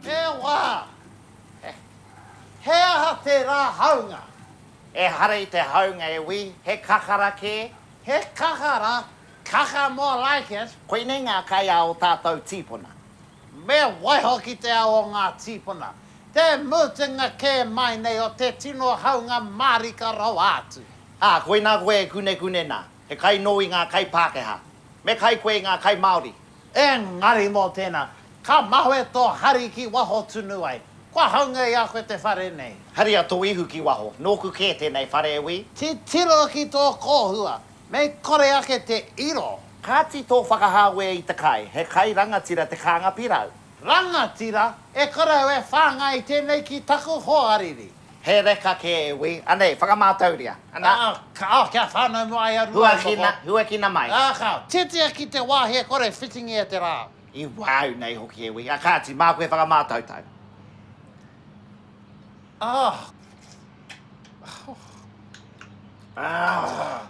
He wā! He aha tērā haunga? Ehara i te haunga e wī, he kakara kē. He kakara? Kaka more like it! Koinei ngā kai a o tātou tīpuna. Me waiho ki te ao o ngā tīpuna, te mutunga kē mai nei o te tino haunga mārika rawa atu. Ā, koinā koe e kunekune nā. He kai nō i ngā kai Pākehā. Me kai koe i ngā kai Māori. Engari mō tēnā, ka mahue tō hari ki waho tunu ai. Kua haunga i a koe te whare nei. Haria tō ihu ki waho. Nōku kē tēnei whare e wī. Titiro ki tō kōhua. Mei kore ake te iro. Kāti tō whakahāwea i te kai. He kai rangatira te kānga pirau. Rangatira, e kore au e whāngai tēnei ki taku hoariri. He reka kē e wī. Anei, whakamātauria. Ana. Ā, ka, ā, kia whānau noa ai a Rua e moko. Huakina, huakina mai. Ā, ka. Titia ki te wāhi e kore e whitingi e te rā. I wāu nei hoki e wī. Ā, kāti, māku e whakamātautau. Ā, ka. Ā,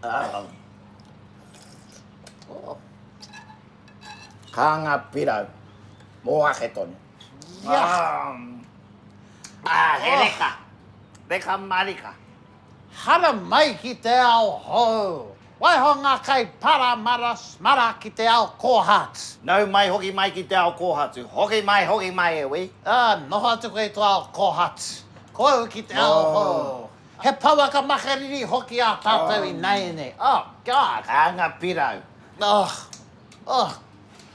ā. Ō. Kānga pirau. Mō ake tonu. Ah, he reka. Reka marika. Hara mai ki te ao hou. Waiho ngā kai paramara smara ki te ao kōhatu. Nau mai hoki mai ki te ao kōhatu. Hoki mai, hoki mai e wī. Ah, noho atu koe i tō ao kōhatu. Ko au ki te ao hou. He pouaka makariri hoki ā tātou ināianei. Oh, God. Anga pirau. Oh, oh.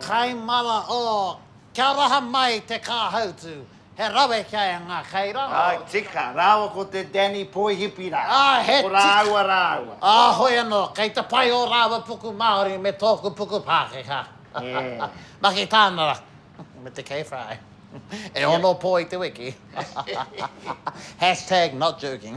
Kai mara o Kia raha mai te kāhautu He rawe kia e ngā kai rā. Ā, tika, rāua ko te Danny Poihipi rā. Ā, he tika. Ko rāua rāua. Ā, hoi anō, kei te pai ō rāua puku Māori me tōku puku Pākehā. Maki tāna rā. Me te kei whai. E ono pō i te wiki. Hashtag not joking.